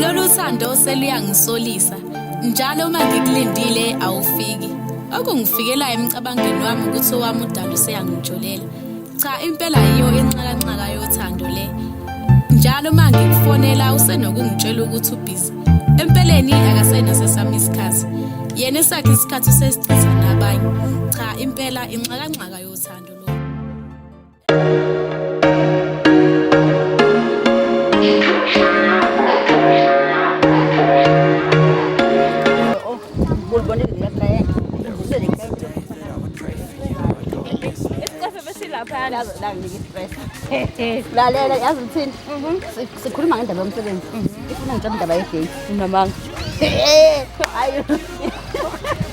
Lolu sando seluyangisolisa njalo uma ngikulindile awufiki. Okungifikelayo emcabangweni wami ukuthi owami udalo seyangijolela. Cha impela yiyo inxakanxaka yothando le. Njalo uma ngikufonela usenokungitshela ukuthi ubhizi. Empeleni akasenaso sami isikhathi. Yena esakhe isikhathi sesichitha nabanye. Cha impela inxakanxaka yothando. lalela yazi ngithini sikhuluma ngendaba yomsebenzi ifuna ngitshela indaba yegate unamanga hayi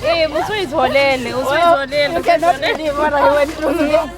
Eh, usuyitholele, usuyitholele. Uke nobhilivora, you went through.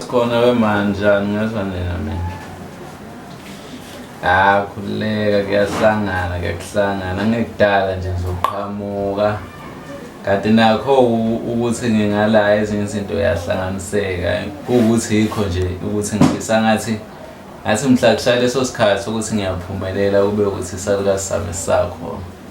Sikhona we man njani ngezwa nina mina. Ah khuleka kuyasangana kuyakusangana ngekudala nje ngizoqhamuka. Kanti nakho ukuthi ngingala ezinye izinto yahlanganiseka ukuthi yikho nje ukuthi ngifisa ngathi ngathi mhla kushaya leso sikhathi ukuthi ngiyaphumelela kube ukuthi isalukazi sami sakho.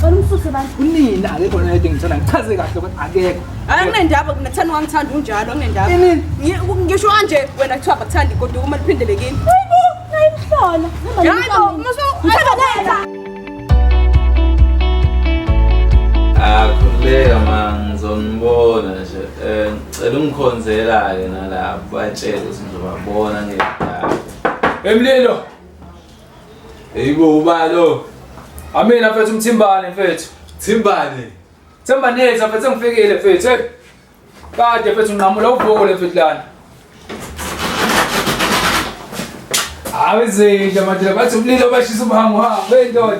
Cela umsuse bani? Unina akekho lento engithanda ngichaze kahle ukuthi akekho. Hayi kunendaba mina thani wangithanda unjalo kunendaba. Inini? Ngisho kanje wena kuthiwa bakuthandi kodwa uma liphindele kimi. Hayibo, ngayimhlola. Hayibo, musu. Akhuleka manje ngizonibona nje. Eh ngicela ungikhonzela ke nalapho batshele ukuthi ngizobabona ngedaba. Emlilo. Eyibo ubalo. Amina mfethu umthimbane mfethu. Thimbane. Themba neza mfethu sengifikile mfethu. Hey. Kade mfethu nqamula uvuko le mfethu lana. Awezinja madela bathi umlilo bashisa umhango ha bendoda.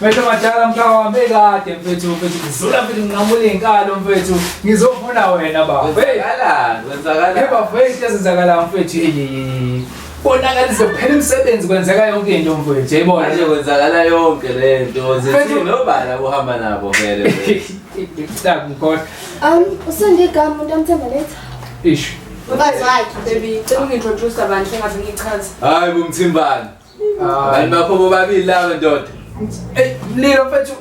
Mfethu madala mkhaya wami ekade mfethu mfethu ngizula mfethu nqamula inkalo mfethu ngizofuna wena baba. Hey. Wenzakala. Hey Wenzakala. bafethu ezenzakala mfethu. Hey, hey, hey, hey. konakalise kuphela imisebenzi kwenzeka yonke into mfowethu yayibona manje kwenzakala yonke le nto zithi nobala kuhamba nabo vele ngikhohlwa um usengigama umuntu amthemba letha isho mfazi wakhe baby cela ungintroduce abantu engaze ngichaze hayi kumthimbani abantu bakho bobabili laba ndoda eyi mlilo mfethu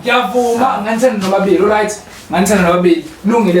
ngiyavuma nganithanda nobabili right nganithanda nobabili lungile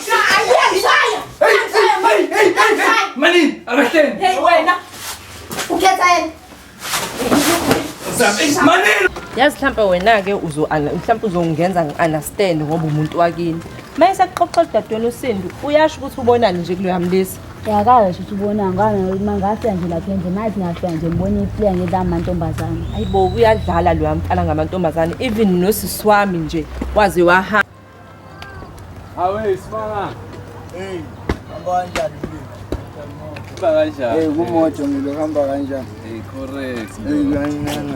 Mani, arrestin! Hey, wait, na. Ukhet ayen. Mani! Yazi mhlawumbe wena-ke mhlawumbe uzongenza ngi-understand ngoba umuntu wakini uma esakuxoxa udadewenu usindu uyasho ukuthi ubonani nje kuloya mlisa yakayo nje ukuthi ubonani ngama ngafika nje lapha endle mathi ngafika nje ngibona iplea ngedla amantombazane ayi bo uyadlala loya mfana ngamantombazane even nosisi wami nje waze wahamba Awe isibanga. Hey, hamba kanjani mlimi? Hamba kanjani? Hey, kumoto ngilo hamba kanjani? Hey, correct. Hey, kanjani?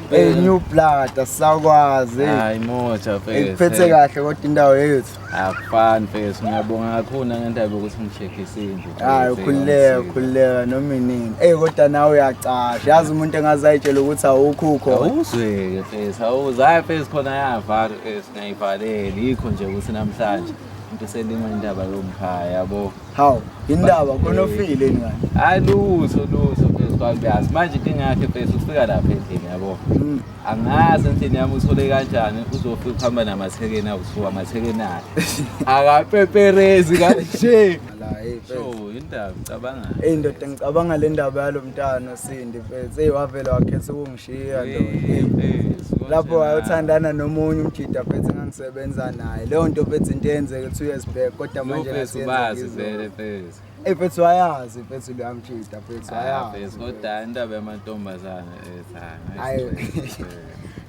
Hey, new blood asakwazi. Hayi moja mfethu. Ikuphethe kahle kodwa indawo yethu. Akufani mfethu. Ngiyabonga kakhulu ngentaba ukuthi ngicheckisile. hayi ukhululeka ukhululeka noma inini eyi kodwa nawe uyacasha yazi umuntu engaze ayitshela ukuthi awukhukho awuzweke fesi awuze hayi fesi khona yavala fesi ngayivaleli yikho nje ukuthi namhlanje into selima indaba yomkhaya yabo hawu indaba khona ofile ingane hayi lutho lutho fesi kwakuyazi manje inkinga yakhe fesi ufika lapha endlini yabo mm. angazi endlini yami uthole kanjani uzofika ukuhamba namathekeni awuthiwa amathekeni akhe akapeperezi kanje La hey mfethu. So indaba cabanga. Ey ndoda ngicabanga le ndaba yalo mntana Sindi mfethu. Sey wavela wakhetha ukungishiya ndoda. Lapho wayothandana nomunye umjida mfethu engangisebenza naye. Leyo nto mfethu into eyenzeke 2 years back kodwa manje Mfethu ngasiyenza bazi ngizwa. vele mfethu. Ey mfethu wayazi mfethu lo amjida mfethu Ah, wayazi. mfethu kodwa indaba yamantombazane eh cha. Hayi. ngeke.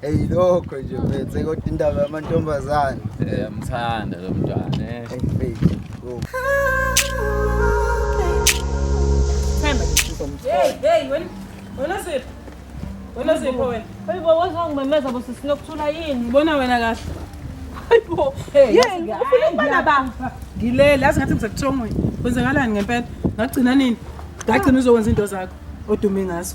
eyilokho nje mfethu kodwa indaba yamantombazane eh amthanda lo mntwana eh Hey, hey, wena. Wena sipho. Wena sipho wena. Hayibo wazwa ngimemeza bo sisinokuthula yini? Ubona wena kahle. Hayibo. Yini ufuna ukubana ba? Ngilele, azi ngathi ngisekuthongweni. Kwenzakalani ngempela? Ngagcina nini? Ngagcina uzokwenza into zakho odume ngazo.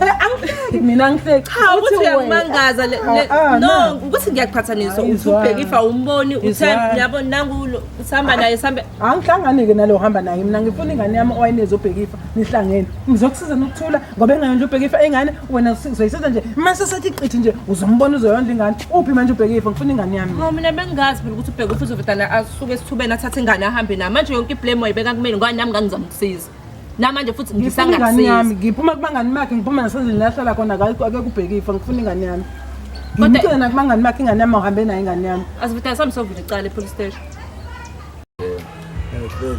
angihleki mina angihleki cha ukuthi uyakumangaza le- le- Ah, ah, no na. ukuthi ngiyaqhathaniswa Hayi, uthi ubheka zwana. ifa umboni uthe Izwana. uyabo nangu lo- sihamba naye sambe angihlangane-ke nalo ohamba naye mina ngifuna ingane yami owayinezi obheka ifa nihlangene ngizokusiza nokuthula ngoba engayondla ubheka ifa ingane wena usi- uzoyisiza nje mase sethi qithi nje uzombona uzoyondla ingane uphi manje ubheka ifa ngifuna ingane yami Hawu mina bengazi phela ukuthi ubheka ufuthi uvedana asuke esithubeni athathe ingane ahambe nayo manje yonke iblame wayibeka kumina ngoba nami ngangizamsiza namanje futhi ngifuna ingane yami ngiphuma kubangani bakhe ngiphuma nasendlini lahlala khona ake kubhekifo ngifuna ingane yami ngimtshele nakubangani bakhe ingane yami awuhambe nayo ingane yami asivuthane sami sovula icala epolice station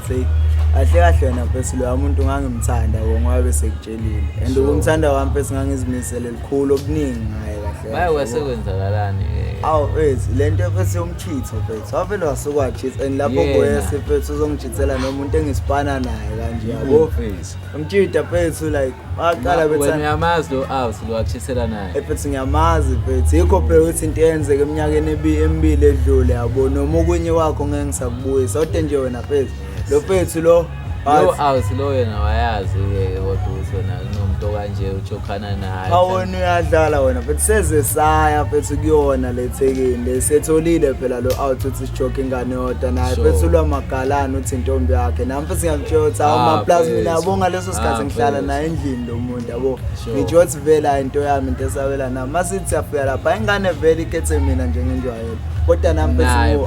eh, kahle kahle wena mfesi loya muntu ngangimthanda wo ngoba besekutshelile and ukumthanda kwami mfesi ngangizimisele likhulu okuningi ngaye kahle baye kwase kwenzakalani eh? awu wethu le nto mfesi Chitho mfethu wavele wasukwajitha and lapho Yena. kwese mfethu uzongijithela nomuntu engisipana naye kanje yabo Mfethu. umtshida mfethu like baqala Wena bethanda uyamazi lo out lo wakushisela naye. efethu ngiyamazi mfethu yikho phela ukuthi into eyenzeka eminyakeni ebi- emibili edlule yabo noma okunye wakho ngeke ngisakubuyisa kodwa nje wena mfethu lo mfethu lo Yo awuthi lo yena wayazi ke kodwa ukuthi wena kunomuntu okanje ujokhana naye. Cha wena uyadlala wena but seze saya phethu kuyona lethekeni lesetholile phela lo out uthi sijoke ingane yodwa naye phethu lwamagalana uthi intombi yakhe nami futhi ngiyamtshela ukuthi awu ah, ma plus mina yabo ngaleso sikhathi ah, ngihlala naye endlini lo muntu yabo ngitsho ukuthi vela into yami into esabela nami masithi siyafika lapha ingane vele ikhethe mina njengenjwayelo kodwa nami phethu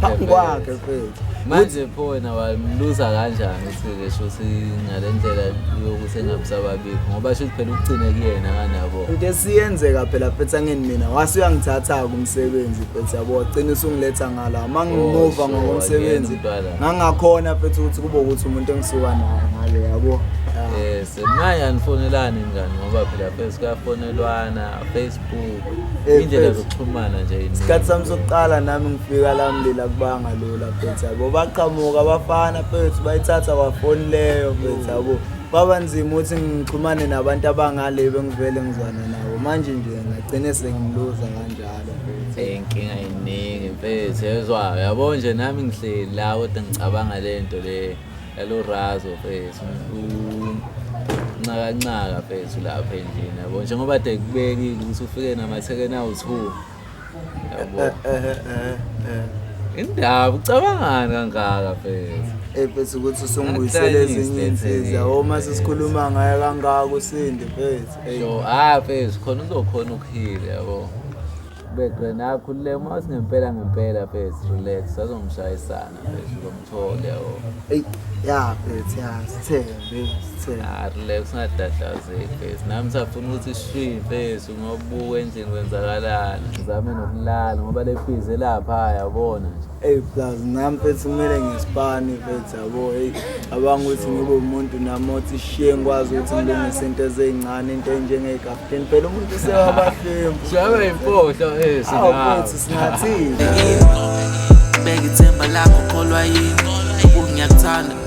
phambi kwakhe phethu manje pho wena wamluza kanjani ukuthi-ke shuthi ngale ndlela yokuthi engabusababikho ngoba shuthi phela ukugcine kuyena kanabo into esiyenzeka phela phetha ngeni mina wase uyangithatha-ke umsebenzi phetha yabo wagcina usungiletha ngala uma ngimuva oh, ngokomsebenzi ngangakhona phetha ukuthi kube ukuthi umuntu engisuka naye ngale yabo yes manje anifonelani ngani ngoba phela phela kuyafonelwana Eh, indlela zokuxhumana nje isikhathi sami sokuqala nami ngifika la mlila kubanga lula phetha yabo baqhamuka abafana phethu bayithatha kwafoni leyo phetha yabo kwaba nzima ukuthi ngixhumane nabantu abangale bengivele ngizwana nabo manje nje ngagcine sengiluza kanjalo eh, inkinga iningi mfethu yezwa yabo nje nami ngihleli la kodwa ngicabanga le nto le Hello Razo mfethu. Unxaka nxaka mfethu lapha endlini yabo. Njengoba de kubekile ukuthi ufike namathekeni awu2. Yabo. Eh, eh, eh, eh. Indaba ucabangani kangaka mfethu? Eh bese ukuthi usungibuyisele Akangihlanyisi ezinye le insizwa thekeni, uma mfethu. sisikhuluma ngayo kangaka usindi mfethu. Ey. Yo, ah mfethu khona uzokhona ukuhila yabo. Bedwe nakho le uma singempela ngempela bese relax sazomshayisana bese uzomthole o. Ey ya bese ya sithembe sithembe. Ah relax ungadadlazeki bese nami safuna ukuthi shwi bese ngobuka endlini kwenzakalani. Ngizame nokulala ngoba lefize lapha yabona nje. Hey plus nami mfethu kumele ngispani mfethu yabo hey abanga ukuthi ngibe umuntu nami othi shiye ngikwazi ukuthi ngilungise into ezincane into enjengekapteni phela umuntu sewabahlemu shabe impohlo eh singathi singathini bekithemba lakho kholwa yini ukungiyakuthanda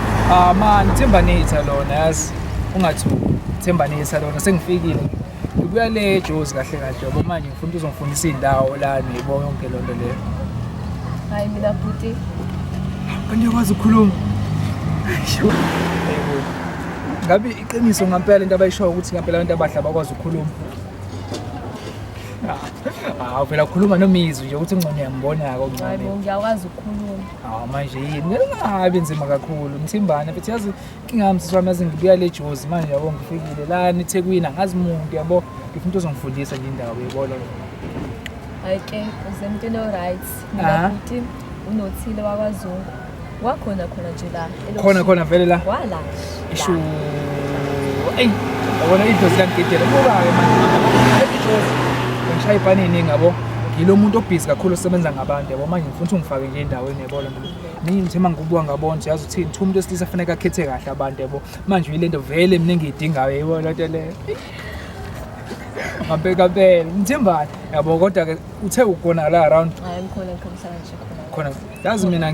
Ah man, Themba Nitha lona yazi ungathuki. Themba Nitha lona sengifikile. Ngibuya le Jozi kahle kahle yabo manje ngifuna ukuthi uzongifundisa indawo la nibo yonke lonto le. Hayi mina bhuti. Angiyakwazi ukukhuluma. Ngabe iqiniso ngampela into abayishoyo ukuthi ngampela abantu abadla bakwazi ukukhuluma. Ah, uvela kukhuluma nomizwi nje ukuthi ingcono yambona-ke Hayi okuncane. bo ngiyakwazi ukukhuluma. Hawu manje yini ngingabi nzima kakhulu mthimbane futhi yazi inkinga yami sisi wami yazi ngibuya le jozi manje yabo ngifikile lana ethekwini angazi muntu yabo ngifuna umuntu ozongifundisa nje indawo yebona hayi ke uze empilo right Ah. mina futhi unothile wakwazungu wakhona khona nje la khona khona vele la wala ishu eyi yabona idlozi langigidela buka-ke manje idlozi ngishaya ipani eningi yabo yilo muntu obhizi kakhulu osebenza ngabantu yabo manje ngifuna ukuthi ungifake nje endaweni yabo lona ningi ngithe uma ngikubuka ngabona ukuthi yazi uthini kuthiwa umuntu wesilisa afaneke akhethe kahle abantu yabo manje yile nto vele mina engiyidingayo yibo loo nto leyo ngabekabele ngithembani yabo kodwa-ke uthe ukonakala around Hayi ngikhona ngikhona ngihlala ngisho khona. khona yazi mina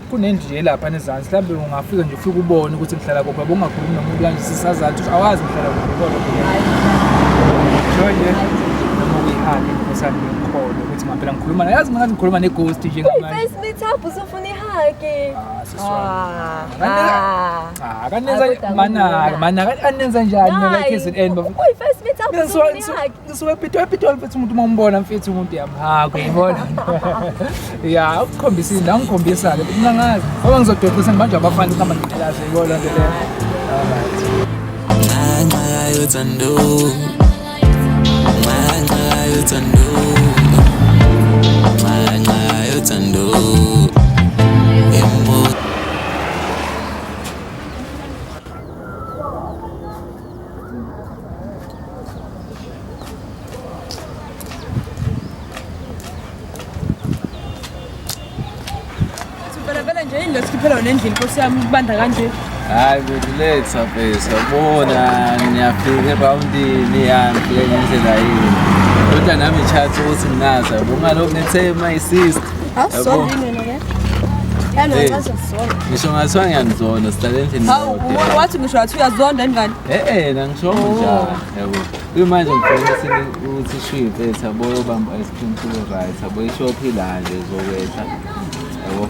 kunendlu elapha nezansi mhlawumbe ungafika nje ufike ubone ukuthi ngihlala kuphi yabo ungakhulumi nomuntu kanje sisazathi ukuthi awazi ngihlala kuphi kodwa nje noma uyihali inkosana ngikhona ukuthi ngampela ngikhuluma nayo yazi ngathi ngikhuluma neghost nje ngamanyefirst meet up usufuna ihaki akanenza manaka manaka anenza njani like izin end mina ngisuke epitoli epitoli mfethu umuntu uma umbona mfethu umuntu yamhako ubona ya ukukhombisa into angikhombisa-ke futhi nangazi ngoba ngizododisa ngibanje abafana ukuhamba ngiqalaze yibo loo nto leyo nxanxa yayo thando nxanxa yayo thando nxanxa yayo thando nendlini nkosi yami ukubanda kanje hayi kuthi letha bese yabona niyafika ebawundini yangifike ngendlela yini kodwa nami ngitshatha ukuthi nginazi yabo ngalokhu ngithe my sister ngisho ngathiwa ngiyanizona sihlale endlini wathi ngisho wathi uyazonda ingane e-ena ngisho njalo yabo kuyimanje ngifuna ukuthi ishife sabo yobamba ice cream kule right sabo ishophi la nje zokwehla yabo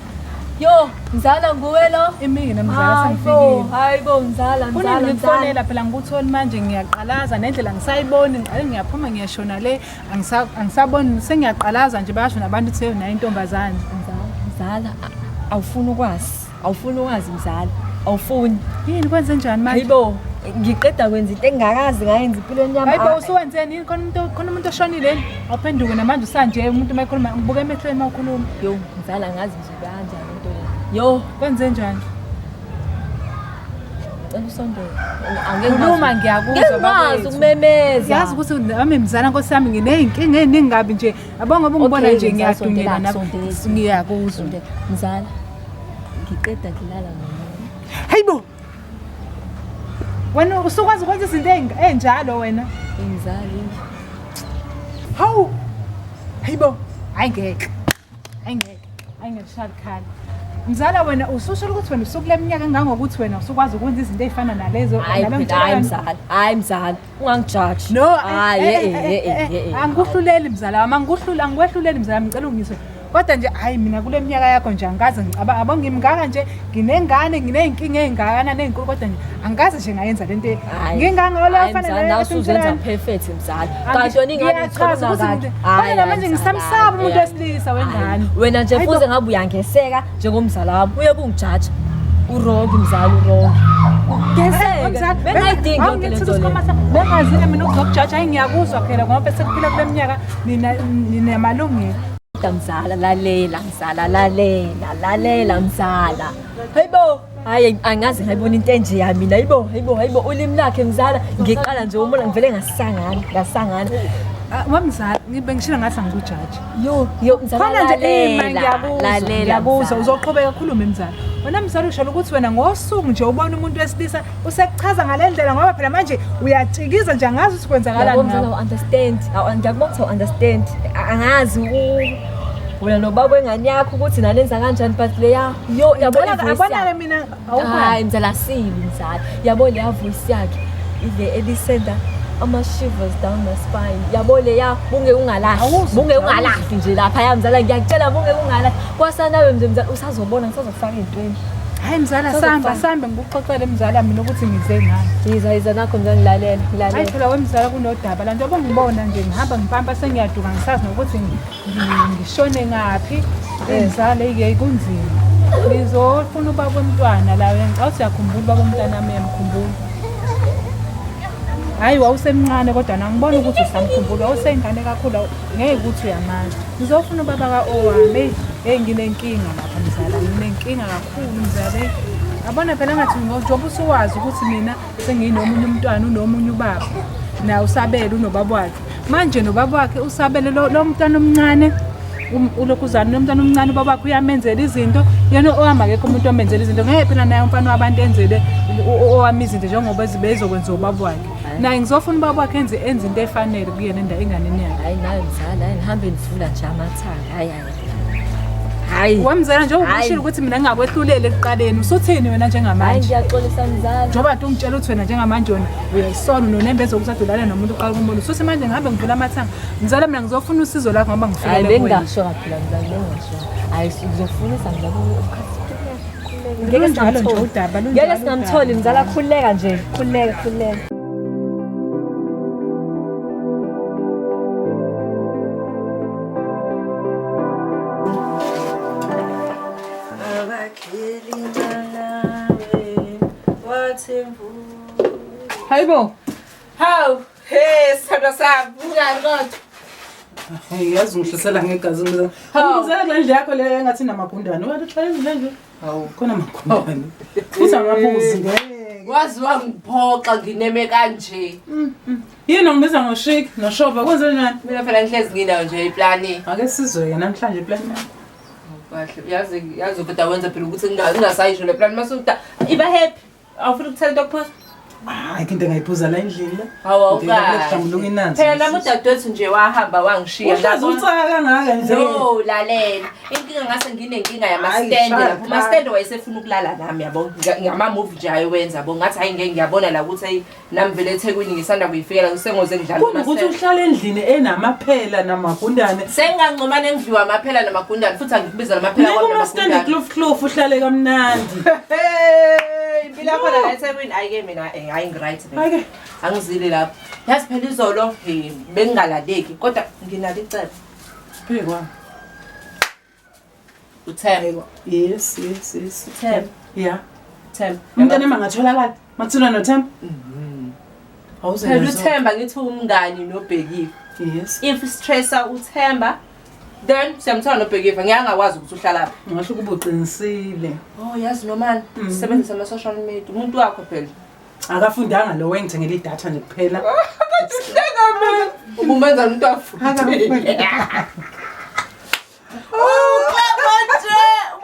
Yo, mzala nguwe lo? Imini namzala sengifikile. Hayi bo mzala, mzala. Kunini ngikufonela phela ngikutholi manje ngiyaqalaza nendlela ngisayiboni ngiqale ngiyaphuma ngiyashona le angisaboni sengiyaqalaza nje bayasho nabantu ukuthi yona intombazane. Mzala, mzala awufuni ukwazi. Awufuni ukwazi mzala. Awufuni. Yini kwenze njani manje? Hayibo, ngiqeda kwenza into engakazi ngayenza impilweni yami. Hayibo usuwenzeni yini khona umuntu khona umuntu oshonile yini? Awuphenduke namanje usanje umuntu uma ekhuluma ubuke emehlweni uma ukhuluma. Yo. Mzala ngazi nje kanjani into le. Yo, kwenze njani? Cela usondele. Angeke Khuluma ngiyakuzwa Ngikwazi bakwethu. ukumemeza. Yazi ukuthi nami mzala nkosi yami nginey'nkinga ey'ningi kabi nje yabo ngoba ungibona Okay, nje mzala, ngiyadunyela sondela, nami sondela. ngiyakuzwa Mzala, ngiqeda ngilala ngomunye. Hayibo! wena usukwazi ukwenza izinto engi- enjalo wena Ngizali. hawu hayi bo hayi ngeke hayi ngeke hayi ngeke shalikhala mzala wena ususho ukuthi wena usukule minyaka engangokuthi wena usukwazi ukwenza izinto ey'fana nalezo Hayi nalo phela hayi mntwana. mzala. Hayi mzala. ungangijaji no eh, hayi eh, eh, eh, eh, eh, angikuhluleli mzala wami angikuhlula angikwehluleli mzala wami ngicela ungiswe kodwa nje hayi mina kule minyaka yakho nje angikaze ngicabanga yabo ngimngaka nje nginengane nginey'nkinga ey'ngakanani ey'nkulu kodwa nje angikaze nje ngayenza le nto ngingangalofaneleuzenza perfect mzala kanti yona inganechaza ukuthi kodwa namanje ngisamsaba umuntu wesilisa wengane wena nje fuze ngabe uyangeseka njengomzala wami uye kungijaja urongi mzali urongi ngezekebengayidingi yonke le nto bengazile mina ukuzokujaja ayi ngiyakuzwa phela ngoba sekuphila kule minyaka ninamalungelo mzala lalela mzala lalela lalela mzala hayibo hayi angazi ngayibona into enje ya mina hayibo hayibo hayibo ulimi lakhe mzala ngiqala nje umona ngivele ngasangana ngasangana Ah, wamzala ngibe ngishilo ngathi angikujaji yo yo mzala khona nje eh, lalela, ngiyakuzwa lalela, ngiyakuzwa mzala. uzoqhubeka khulume mzala wena mzala usholo ukuthi wena ngosuku nje ubona umuntu wesilisa usekuchaza ngale ndlela ngoba phela manje uyatshikiza nje angazi ukuthi Yabo, kwenzakalani mzala ngawe u-understand Awu, ngiyakubona ukuthi u-understand A- angazi u- wena nobaba wengane yakho ukuthi nanenza kanjani but leya Yo, yabo Ngicela ivoice abonake yakhe. mina Hayi awukhona. mzala sibi mzala. Yabo le voice yakhe ile ebisenda ama shivers down my spine. Yabo le ya bunge ungalahli. Awuzwa, Bunge awuzwa. ungalahli nje lapha ya mzala ngiyakutshela bunge ungalahli. Kwasanawe mzala mzala usazobona ngisazokufaka ezintweni. Hayi mzala Sasa samba kufana. sambe ngikuxoxele mzala mina ukuthi ngize ngani. Yiza yiza nakho mzala ngilalela Hayi ngilalela. phela wemzala kunodaba la njengoba ngibona nje ngihamba ngipampa sengiyaduka ngisazi nokuthi ngi- ngishone ngaphi ngizale ke kunzima ngizofuna ubaba womntwana la ngicela siyakhumbula ubaba womntwana wami yamkhumbula hayi wawusemncane kodwa nangibona ukuthi usamkhumbula wawuseyingane kakhulu ngeke ukuthi uyamanje ngizofuna ubaba ka-owami eyi nginenkinga lapha mzala nginenkinga kakhulu mzala abona phela ngathi njengoba usuwazi ukuthi mina senginomunye umntwana unomunye ubaba naye usabele unobaba wakhe manje nobaba wakhe usabele lo lo mntwana omncane um- ulokhu uzana lo mntwana omncane ubaba wakhe uyamenzela izinto yena ohamba kekho umuntu omenzela izinto ngeke phela naye umfana wabantu enzele u- u- owami izinto njengoba zibe izokwenziwa ubaba wakhe naye ngizofuna ubaba wakhe enze enze into efanele kuyena enda enganeni yakhe hayi nayo mzala hayi nihambe nivula nje amathanga hayi Hayi. Wamzala njengoba Hayi. ushilo ukuthi mina ngingakwehluleli ekuqaleni usuthini wena Hayi njengamanje. ngiyaxolisa mzala. Njengoba tu ngitshela ukuthi wena njengamanje wena uyayisona unonembe ezokuthi adulale nomuntu uqala kumbona. Usuthi manje ngihambe ngivula amathanga. Mzala mina ngizofuna usizo lakho ngoba Hayi ngifikele kuwena. bengingasho kaphela mzala bengingasho. Hayi uzofunisa mzala ukukhathi. Ngeke Lunjalo nje singamtholi. udaba, lunjalo Ngeke singamtholi udaba. mzala khuleka nje. Khuleka khuleka. Hayibo. Hawu, hey sithando sami, unjani kodwa? Hey, yazi ngihlasela ngegazi mina. Hawu, ngizela kule ndlu yakho leyo engathi namagundane. Wathi uhlale le ndlu. Hawu, khona amagundane. Futhi angabuzi ngeke. Wazi wangiphoxa ngineme kanje. Mm, mm. Yini ongibiza ngoshik noshoba kwenze njani? Mina phela ngihlezi nginayo nje iplani. Ake sizwe namhlanje iplani yakho. Kahle yazi yazi ubhuti awenza phela ukuthi nginga- ngingasayisho le plani mase uda iba happy. Awufuni ukuthela into kuphuza? Hayi into engayiphuza la endlini la. Hawu Ngihlambuluka inanzi. Phela nami udadewethu nje wahamba wangishiya. Uhlaza Ngabona- unsaka kangaka nje. No, lalela. Inkinga ngase nginenkinga Hayi, yamastende shut lapho. up. Umastende wayesefuna ukulala nami yabo. Ngama-move nje ayewenza yabo. Ngathi hayi ngeke ngiyabona la ukuthi ayi nami vele ethekwini ngisanda kuyifikela kusengoze ngidlala Kumbe ukuthi amasela. uhlala endlini enamaphela namagundane. sengingancomane engidliwa amaphela namagundane futhi angikubiza namaphela Ngeke kwami uma stande namagundane. clof clof uhlale kamnandi. Hey, impilo yakhona la ethekwini ayike mina eh, hayi ngiright mina Ake. angizile lapho yazi phela izolo eh, bengingalaleki kodwa nginalo icebo Phikwa. uthemba yes yes yes uthemba yeah themba umntana mangatholakala mathula nothemba mm-hmm. phela uthemba ngithi umngani nobhekile yes if stressa uthemba then siyamthola nobhekiva ngeke angakwazi ukuthi uhlalaphi ngasho ukuba uqinisile oh yazi nomani mm-hmm. sebenzisa ama-social media umuntu wakho phela akafundanga lo wengithengela idatha nje kuphela ubumenza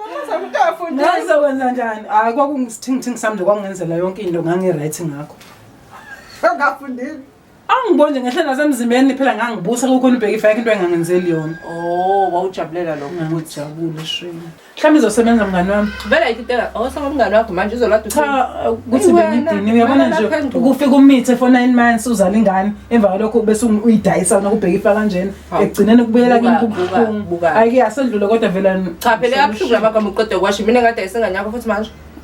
umuntu afunde ngizokwenza njani hayi kwakungisithingithingi sami nje kwakungenzela yonke into ngangiright ngakho ngafundile Angibonje ngehle nasemzimbeni phela ngangibusa kukhona ubheka ifake into engangenzeli yona. Oh, wawujabulela lokho ukuthi Ngangijabule shame. Mhlawumbe izosebenza mngani wami. vela ikitela awusaba umngane wakho manje uzolada Cha uh, ukuthi Iwena, bengidini uyabona wena nje lapha endlini. ukufika umithe for 9 months uzala ingane emva kwalokho bese ungu- uyidayisa wena kubheka ifa kanjena Hawu. ekugcineni kubuyela Buka, kimi buka, kubuhlungu. buka. Ayike asedlule kodwa vela cha phela yabuhlungu labagama uqeda kwasho mina ngade isengane yakho futhi manje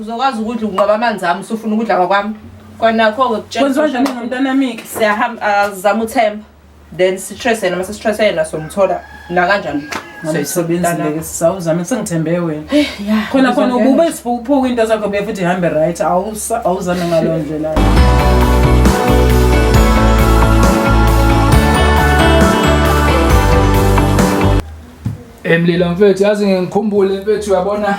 uzokwazi ukudla ukunqoba amanzi ami usufuna ukudla kwakwami kwanakho-ke kwenziwa njani ngomntanamike siyahamba azama uthemba then sitrese yena uma sesitrese yena somthola nakanjani soyisebenzileke sisawuzame sengithembe wena khona khona ukube siphukuphuka into zakho be futhi ihambe right awuzame ngaleyo ndlela emlilo mfethu yazi ngikhumbule mfethu uyabona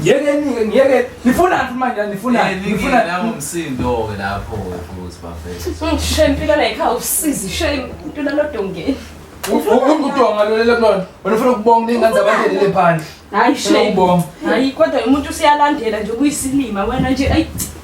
Ngeke nike ngeke nifuna nti manje nifuna eh, nifuna la umsindo ke lapho futhi bafethu. Shishe impilo la ikhaya usizi shishe impilo lodongeni. Udonga lo lelo kulona. Wena ufuna ukubonga ingane zabantu lele phandle. Hayi shishe. Hayi kodwa umuntu usiyalandela nje kuyisilima wena nje ayi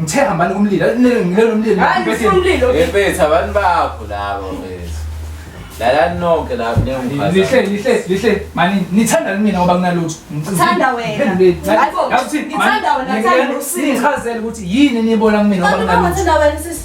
Ngithe hambani kumlilo. Ngilelo umlilo. Hayi umlilo. Ebetha abantu bakho labo bese. Lalani nonke la kunengumfazi. Lihle lihle lihle mani nithanda mina ngoba kunalutho. Ngithanda wena. Hayibo. Ngithanda wena ngithanda usini. Ngichazela ukuthi yini enibona kumina ngoba kunalutho. Ngithanda wena sisi.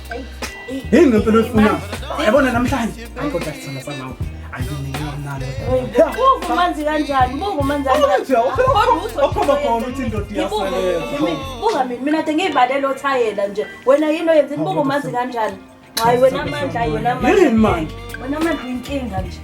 Yini ngempela oyifuna? Yabona namhlanje. Hayi kodwa sithanda samawu. Ungumanzi kanjani? Ungumanzi kanjani? Okhomba khona uthi indoda iyasebenza. Buka mina, mina kade ngiyibalele othayela nje. Wena yini oyenzeni? Ungumanzi kanjani? Hayi wena amandla, wena amandla. Yini manje? Wena amandla inkinga nje.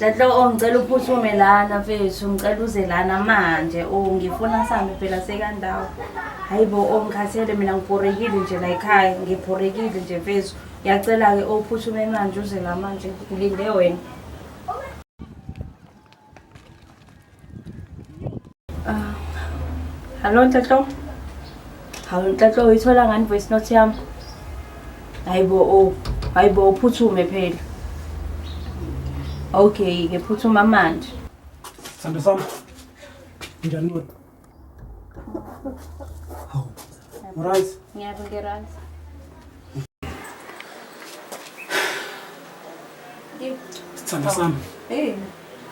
Dladlo oh ngicela uphuthume lana mfethu ngicela uze lana manje o oh, ngifuna sambe phela sekandawo hayi bo o oh, ngikhathele mina ngibhorekile nje la ekhaya ngibhorekile nje mfethu ngiyacela-ke o oh, uphuthume manje uze la manje ngilinde wena Ah, hello Ntatlo. Hawu Ntatlo uyithola ngani voice note yami? Hayibo o, hayibo uphuthume phela. Okay, ngiphuthuma manje. Sando sami. Njani wena? Rice. Yeah, we get rice. Sithanda sami. Hey.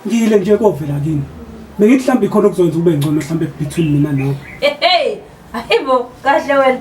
Ngiyile nje kovela kini. Bengithi mhlawumbe ikhona okuzokwenza ube ngcono mhlawumbe between mina nawe. Hey. Ayibo, kahle wena.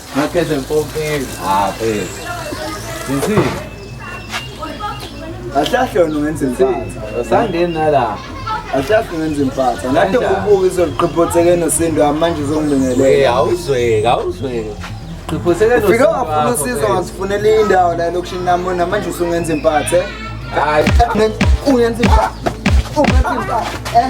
Ngakhethe mpompeli. Ah, phela. Ngithi Ahlahle wena ungenza impatha. sangeni nala. Ahlahle ungenza impatha. Ngathi Kanjani? ukubuka izoliqhiphotheke nosindu wami manje Eh, uzongibingelela. awuzweki, awuzweki. Qhiphoseke Ufike wafuna usizo ngazifunela indawo la elokishini namona manje usungenza impatha. Hayi. Ungenza impatha. Ungenza impatha. Eh.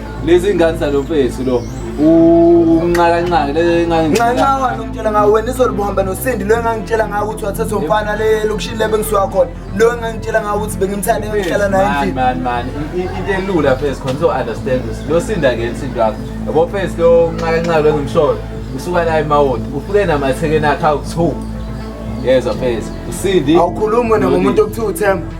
lezi ngane zalo mfethu lo unxakanxaka lenxanxawa nomtshela ngawo wena izolo buhamba nosindi lo engangitshela ngawo ukuthi wathatha umfana le lokushini le bengisuka khona lo engangitshela ngawo ukuthi bengimthanda engihlala naye endlini man man into elula phase khona so understand this lo sinda ke insinto yakho yabo phase lo unxakanxaka lo engimsholo usuka la emawodi ufike namathekeni akhe awu-two yezwa phase usindi awukhulumi wena ngomuntu okuthiwa uthemba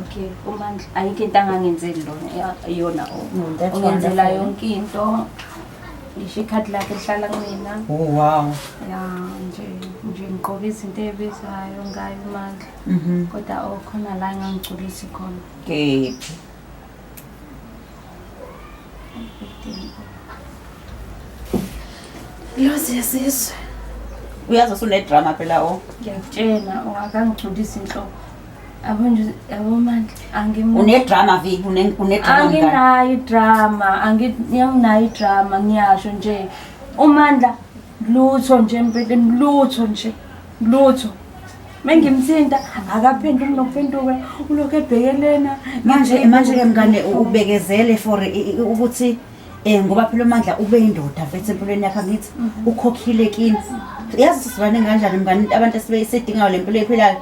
okay umandla ayikho into angangenzeli lona iyona ungenzela yonke into ngisho ikhadi lakhe lihlala kumina oh wow ya nje nje ngigqoke izinto ebizayo ngayo umandla mhm. kodwa okhona la engangigculisi khona kephi Lozi yesizwe. Uyazi usunedrama phela o. Ngiyakutshela ongakangigculisi inhloko. Abo nje abo manje angim Unedrama viki une- unedrama ngani? anginayo idrama anginayo idrama ngiyasho nje umandla lutho nje empeleni lutho nje lutho mengimthinta akaphenduki nokuphenduka ulokhu ebhekelena manje manje ke mngane ubekezele for ukuthi um ngoba phela umandla ube yindoda mfethu empilweni yakhe angithi mhm. ukhokhile kini yazi sizwane kanjani mngane abantu esibeyisidingayo le mpilo ephilayo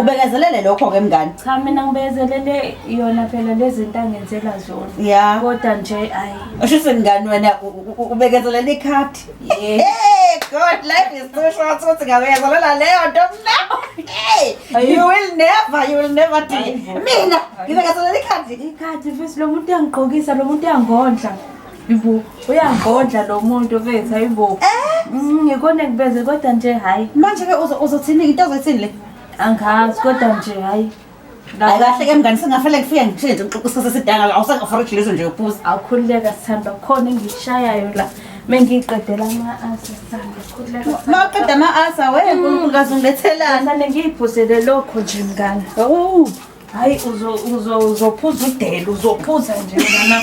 ubekezelele lokho-ke mngane cha mina ngibekezelele yona phela le zinto angenzela zona ya kodwa nje ayi usho ukuthi mngane wena ubekezelele ikhadi Hey, God, life is too short ukuthi ngawuyazolola leyo nto mna. Hey, you will never, you will never do it. Mina, ngibe ngazolola ikhadi. Ikhadi mfethu lo muntu uyangigqokisa, lo muntu uyangondla. Yibo, uyangondla lo muntu mfethu, hayibo. Eh? Mm, ngikona ngibeze kodwa nje hayi. Manje ke uzothini into ozoyithini le? Angazi kodwa nje hayi. Hayi kahle ke mngani singafanele kufike ngithini nje ngixoxa isikhathi esidanga awusangaforage lezo nje yokubuza. Awukhululeka sithanda khona engishayayo la. Mengiqedela ama asa sithanda khululeka. Maqeda ama asa we uNkulunkulu kaze ungilethelani. Sithanda ngiyiphuzele lokho nje mngani. Awu. Hayi uzo uzo uzophuza udela uzophuza nje mngana.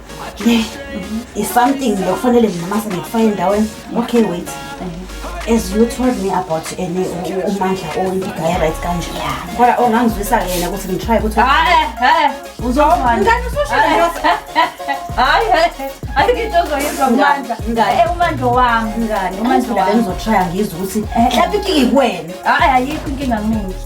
ne is something lokufanele mina mase ngikufake endaweni okay wait as you told me about ene umandla oyiguy right kanje kodwa ongangizwisa ke yena ukuthi ngitry ukuthi hayi hayi uzongani ngani usosho hayi hayi ngitho zoyizwa umandla ngani eh umandla wami ngani umandla wami ngizotrya ngizwe ukuthi mhlawumbe ikike kuwena hayi ayikho inkinga mina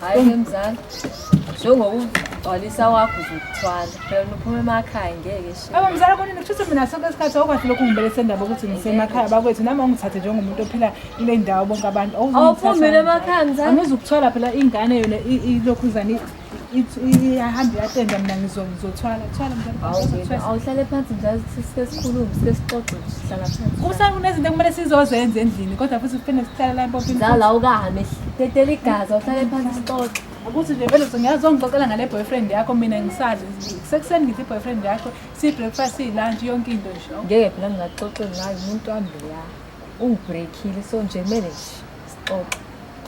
Hayi mzala. Njengokugcwalisa wakho uzokuthwala. Phela uphuma emakhaya ngeke shi. Aba mzala kuni ngithuthi mina sonke isikhathi awukwazi lokhu ngibelese indaba ukuthi ngisemakhaya bakwethu nami awungithathe njengomuntu ophila kule ndawo bonke abantu. Awuphumile emakhaya mzala. Angizukuthwala phela ingane yona ilokhuzane iyahamba iyatenda mina ngizothwala thwala awuhlale phansi nje sike sikhulume sike sixoxe sihlala phansi kusa kunezinto ekumele sizozenza endlini kodwa futhi kuphinde sihlale la empompini zala ukahame tetela igazi awuhlale phansi sixoxe ukuthi nje vele ngiyazongixoxela ngale boyfriend yakho mina ngisazi sekuseni ngithi boyfriend yakho si-breakfast si-lunch yonke into nje ngeke phela ngingaxoxe ngayo umuntu wami leya ungibreakhile so nje kumele nje sixoxe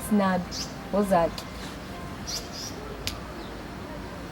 sinabi ozakhe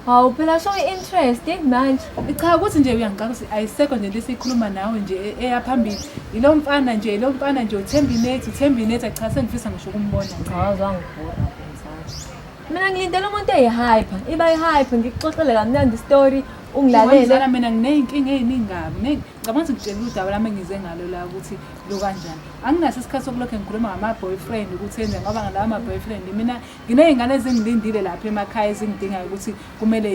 Hawu phela show i-interest manje. Cha ukuthi nje uyangicaka ukuthi ayisekho nje into esiyikhuluma nawe nje e- eya phambili. Yilo mfana nje, yilo mfana nje uthemba inethi, uthemba inethi acha sengifisa ngisho ukumbona. Cha waze wangibhora mfundisi. Mina ngilindele umuntu eyi-hyper, iba yi-hyper ngikuxoxele kamnandi istory ungilalele. Ngilalele. mina nginey'nkinga ey'ningi kabi. Ngi- ngicabanga ukuthi ngitshela udaba lami engize ngalo la ukuthi lo kanjani anginaso isikhathi sokulokhu ngikhuluma ngama-boyfriend ukuthi enze ngoba ngalawa ma-boyfriend mina nginey'ngane ezingilindile lapha emakhaya ezingidingayo ukuthi kumele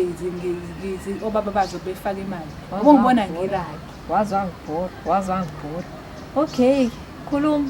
obaba bazo befake imali ngoba ngibona ngilapho wazwangibhora wazwangibhora okay khuluma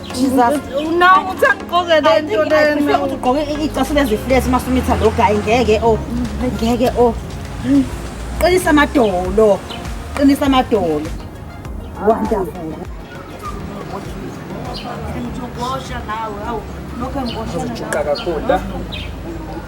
ugqoke icasule ziflesi masumitha lo gayi ngeke o ngeke o qinisa amadolo qinisa amadolo wonderful Look, I'm going to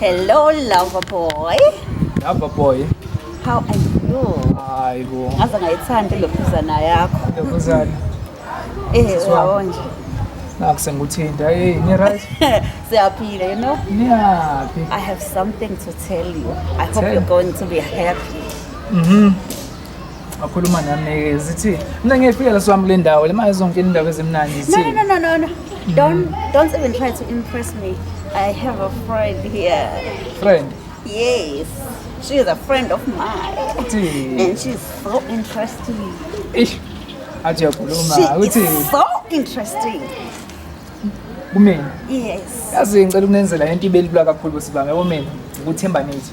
Hello, lover boy. Lover boy. How are you? Hayi bo. Ngaze ngayithanda lobuzana yakho. Lobuzana. Eh, wawonje. Naku senguthinta. Hey, ni right? Siyaphila, you know? Niyaphi? I have something to tell you. I hope tell. you're going to be happy. Mhm. Mm wakhuluma nami zithi mina ngiyefika la swami kule ndawo le mali zonke indawo ezimnandi no zithi no no no no don't don't even try to impress me i have a friend here friend yes she is a friend of mine uthi and she's so interesting ish athi uyakhuluma she uthi is so interesting kumina yes yazi ngicela ukunenzela into ibelula kakhulu bosibanga yabo mina ukuthemba nithi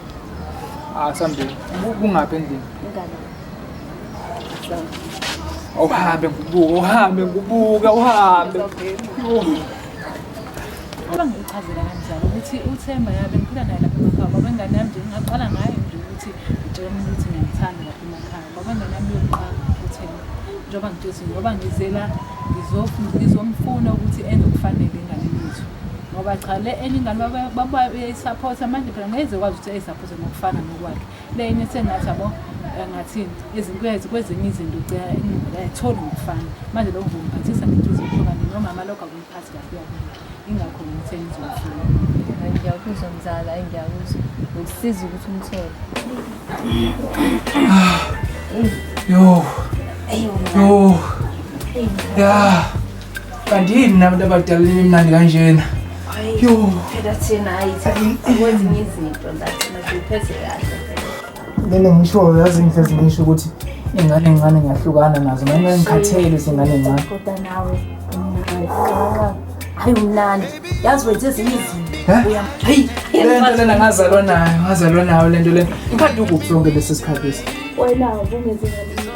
asambe kungaphi endlini awuhambe ngibuke uhambe ngibuke uhambe Uma ngichazela kanjalo ukuthi uThemba yabe ngiphila naye lapha emakhaya baba ingane yami nje ngingaqala ngayo nje ukuthi ngitshela umuntu ukuthi ngiyamthanda lapha emakhaya baba ingane yami yokuqala uThemba njengoba ngitshela ukuthi ngoba ngizela ngizomfuna ukuthi enze okufanele enganeni yethu ngoba cha le enye ingane babayisaphotha manje phela ngeze kwazi ukuthi eyisaphothe ngokufana nokwakhe le enye sengathi abo ngathini izinkwezi kwezinye izinto ugcina ayitholi ngokufana manje lokho ngokuphathisa ngenhliziyo ehlukane nomama lokho akumphathi kahle ingakho ngithe ngizofuna ngiyakuzwa mzala ngiyakuzwa ngikusiza ukuthi umthole yo yo ya kanti yini nina bantu abadala nimnandi kanjena Yo. Phela thina hayi akwenzi ngezinto la thina siphethe kahle. Mina ngisho yazi ngithe ngisho ukuthi ingane ngane ngiyahlukana nazo noma ngikhathele izingane ngane. Kodwa nawe hayi umnandi yazi wenze ezinye izinto hayi lento lena ngazalwa nayo ngazalwa nayo lento lena ngikhathi ukuphi sonke lesi sikhathi lesi wena ubungezingane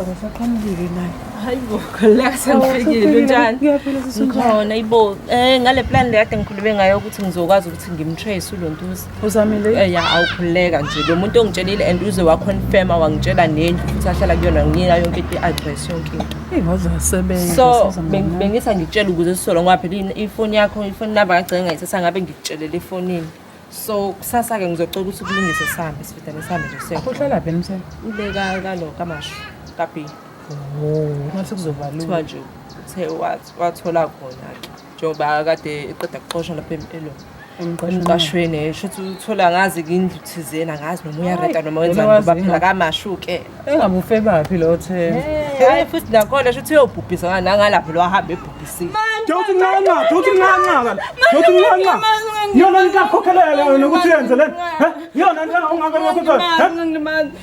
Awusaqhamukile naye. Hayi bo, khuleka sengifikile njani? Ngiyaphila sisi. Ngikhona ibo. Eh ngale plan le kade ngikhulume ngayo ukuthi ngizokwazi ukuthi ngimtrace uLontuza. uzamile eh, ya awukhuleka nje lo muntu ongitshelile and uze waconfirma wangitshela nendlu futhi ahlala kuyona nginika yonke into i-address yonke into so bengisa ngitshela ukuze sisolo ngoba phela ifoni yakho ifoni number kagcine ngayithatha ngabe ngikutshelele efonini so kusasa-ke ngizocela ukuthi kulungise sihambe sifitane sihambe nje siyouhlala phi emseni ubeka kalo kamasho kabhi oh, mase kuzobalula kuthiwa nje uthe wathola khona-ke njengoba kade eqeda kuxoshwa lapha empilo emqashweni eh, sho ukuthi uthola ngazi kindlu thizeni angazi noma uyareda noma wenzani ngoba phela kamashuke engabufe baphi lo themba hayi futhi nakhona sho ukuthi uyobhubhisa ngani nangalapho lo ahambe ebhubhisile Dawuthi ncanca, dawuthi ncanca kana. Dawuthi ncanca. Yona nikakhokhelela yona ukuthi yenze lento. He? Yona nto ongaka lokho. He?